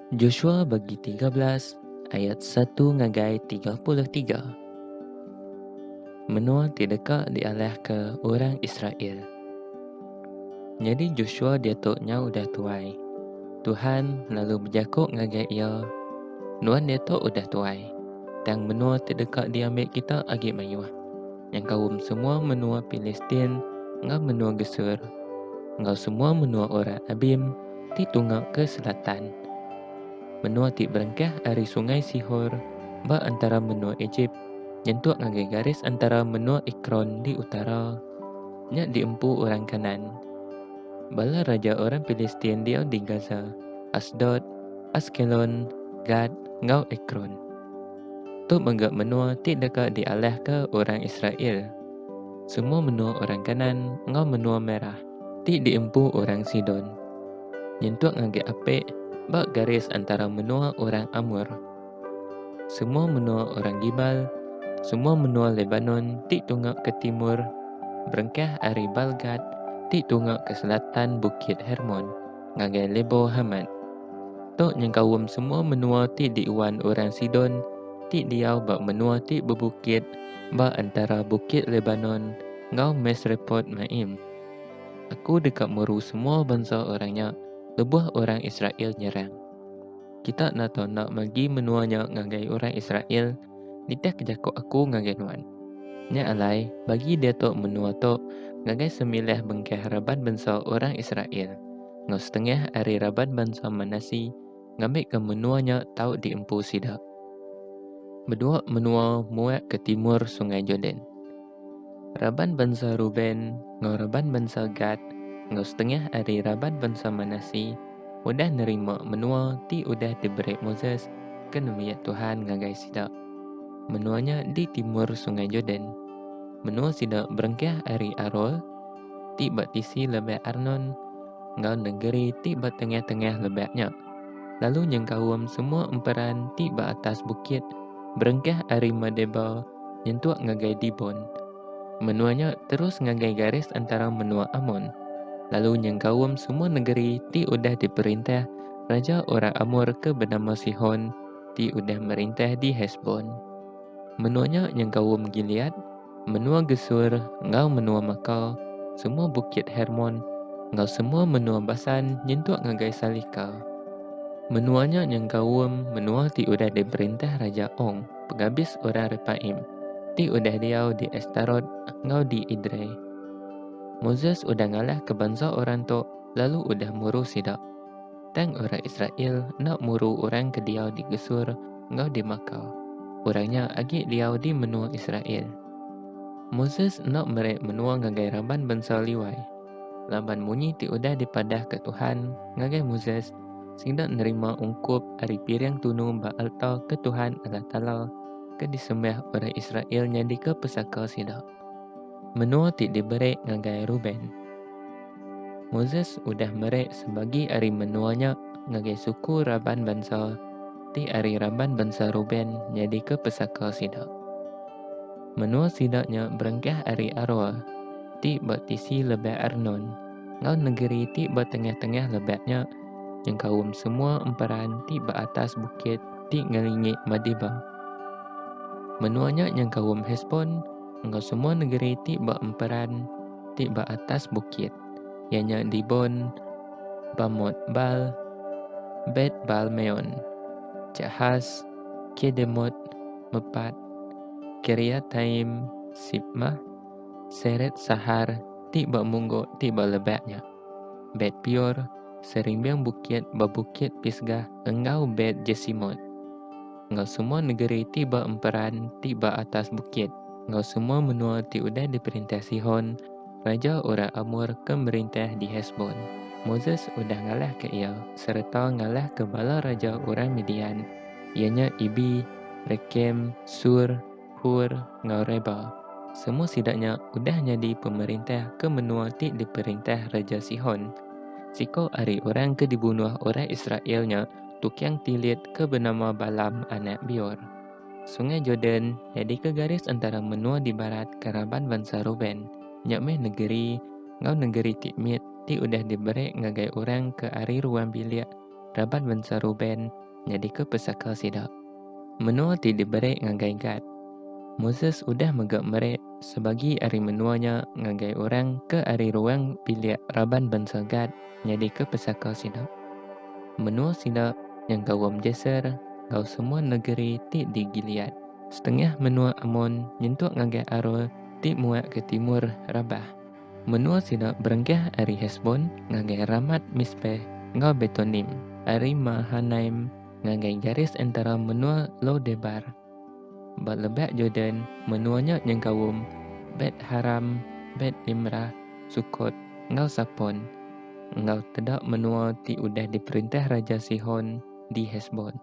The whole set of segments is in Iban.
Joshua bagi tiga belas ayat satu ngagai tiga puluh tiga Menua ti deka dialahka orang Israel. Nyadi Joshua diatu nya udah tuai. Tuhan lalu bejaku ngagai iya, Nuan diatu udah tuai, tang menua ti deka diambil kita agi mayuh. nyengkaum semua menua Pilistin enggau menua Gesur, enggau semua menua orang Abim ti tunga ke selatan. Menua ti berengkah ari Sungai Sihor ba entara menua Ejip nyentuk ngagai garis entara menua Ekron di utara, nya diempu orang Kanaan. Bala raja orang Pilistin diau di Gaza, Asdod, Askelon, Gat, enggau Ekron. Tu mega menua ti deka dialihka orang Israel. Semua menua orang Kanaan enggau menua merah ti diempu orang Sidon nyentuk ngagai api ba garis entara menua orang Amor. Semua menua orang Gibal, semua menua Lebanon ti tunga ke timur berengkah ari Baalgad ti tunga ke selatan Bukit Hermon. ngagai Lebo Hamat. Tu nyengkaum semua menua ti diuan orang Sidon ti diau ba menua ti bebukit ba entara Bukit Lebanon enggau Misrepot Maim. Aku deka meru semua bansa orang nya lebuh orang Israel nyerang. Kita enda tau enda magi menua nya ngagai orang Israel Nitihka jaku aku ngagai nuan. Nya alai, bagi diatu menua tu ngagai sembilah bengkah raban bansa orang Israel, enggau setengah ari raban bansa Manase ngambika menua nya tau diempu sida. Bedua menua muak ke timur Sungai Jordan. Raban bansa Reuben enggau raban bansa Gad enggau setengah ari raban bansa Manasseh udah nerima menua ti udah diberi Moses ke nembiak Tuhan ngagai sida. Menua nya di timur Sungai Jordan. Menua sida berengkah ari Aroer, ti ba tisi lebak Arnon, enggau negeri ti ba tengah-tengah lebak nya, lalu nyengkaum semua emperan ti ba atas bukit berengkah ari Medeba nyentuk ngagai Dibon. Menua nya terus ngagai garis entara menua Amon, lalu nyengkaum semua negeri ti udah diperintah raja orang Amor ke benama Sihon ti udah merintah di Hesbon. Menua nya nyengkaum Gilead, menua Gesur enggau menua Maka, semua bukit Hermon enggau semua menua Basan nyentuk ngagai Salika. Menua nya nyengkaum menua ti udah diperintah raja Ong. pengabis orang Repaim ti udah diau di Astarot enggau di Idrei. Moses udah ngalahka bansa orang tu lalu udah muru sida. Tang orang Israel enda muru orang ke diau di Gesur enggau di Maka. Orang nya agi diau di menua Israel. Moses enda meri menua ngagai raban bansa Liwai. Laban munyi ti udah dipadahka Tuhan ngagai Moses sida nerima ungkup ari piring tunu ba alta ke Tuhan Allah Taala ke disembah orang Israel nyadika pesaka sida. Menua ti diberi ngagai Reuben. Moses udah meri sebagi ari menua nya ngagai suku raban bansa ti ari raban bansa Reuben nyadika pesaka sida. Menua sida nya berengkah ari Aroer ti ba tisi lebah Arnon enggau negeri ti ba tengah-tengah lebat nya nyengkaum semua emperan ti ba atas bukit ti ngelingi Madeba. Menua nya nyengkaum Hesbon enggau semua negeri ti ba emperan ti ba atas bukit, iya nya Dibon, Bamot Bal, Bet Bal Meon, Jahas, Kedemot, Mepat, Kiriataim, Sibmah, Seret sahar ti ba munggok ti ba lebak nya. Bet Pior, Serimbing Bukit ba Bukit Pisga enggau Bet Jesimot. Enggau semua negeri ti ba emperan ti ba atas bukit enggau semua menua ti udah diperintah Sihon, raja orang Amor ke merintah di Hesbon. Moses udah ngalahka iya sereta ngalahka bala raja orang Midian, iya nya Ibi, Rekem, Sur, Hur, enggau Reba. Semua sida nya udah nyadi pemerintah ke menua ti diperintah Raja Sihon. Siko ari orang ke dibunuh orang Israel nya tukang tilit ke benama Balam anak Beor. Sungai Jordan nyadika garis entara menua di barat ke raban bansa Reuben. Nya meh negeri enggau negeri ti mit ti udah diberi ngagai orang ke ari ruang bilik raban mensia Reuben nyadika pesaka sida. Menua ti diberi ngagai Gad. Moses udah mega meri sebagi ari menua nya ngagai orang ke ari ruang bilik raban bansa Gad nyadika pesaka sida. Menua sida nyengkaum Jaser enggau semua negeri ti di Gilead. Setengah menua Amon nyentuk ngagai Aroer ti muak ke timur Rabah. Menua sida berenggah ari Hesbon ngagai Ramat Mispeh enggau Betonim, ari Mahanaim ngagai garis entara menua Lo Debar. Ba lebak Jordan, menua nya nyengkaum Bet Haram, Bet Nimrah, Sukot, enggau Sapon, enggau teda menua ti udah diperintah Raja Sihon di Hesbon.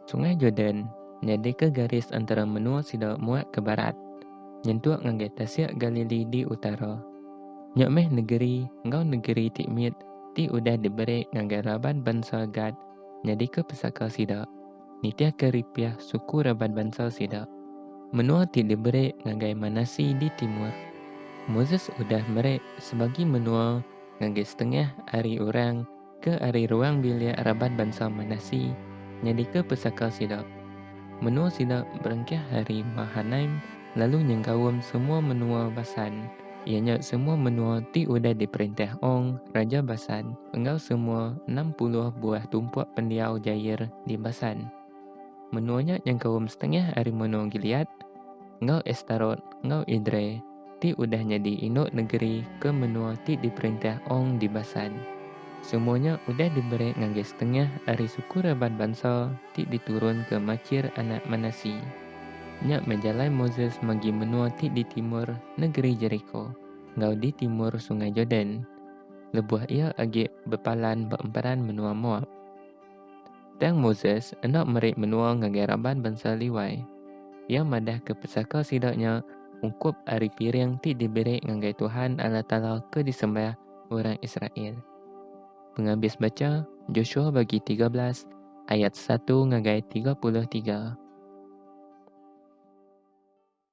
Sungai Jordan nyadika garis entara menua sida muat ke barat, nyentuk ngagai Tasik Galili di utara. Nya meh negeri enggau negeri ti mit ti udah diberi ngagai raban bansa Gad nyadika pesaka sida, nitihka ripih suku raban bansa sida. Menua ti diberi ngagai Manasi di timur. Moses udah meri sebagi menua ngagai setengah ari orang. Ke ari ruang bilik raban bansa Manasi nyadika pesaka sida. Menua sida berengkah ari Mahanaim lalu nyengkaum semua menua Basan, iya nya semua menua ti udah diperintah Ong, raja Basan, enggau semua enam puluh buah tumpuk pendiau Jair di Basan. Menua nya nyengkaum setengah ari menua Gilead, enggau Astarot enggau Edrei. ti udah nyadi indu negeri ke menua ti diperintah Ong Dibasan. Semua nya udah diberi ngagai setengah ari suku raban bansa ti diturun ke Makir anak Manasi. Nya meh jalai Moses magi menua ti di timur negeri Jeriko enggau di timur Sungai Jordan, lebuh iya agi bepalan ba emperan menua Moab. Tang Moses enda meri menua ngagai raban bansa Liwai. Iya madahka pesaka sida nya ungkup ari piring ti diberi ngagai Tuhan Allah Taala ke disembah orang Israel. Pengabis bacha, Joshua bagi tiga belas ayat satu ngagai tiga puluh tiga.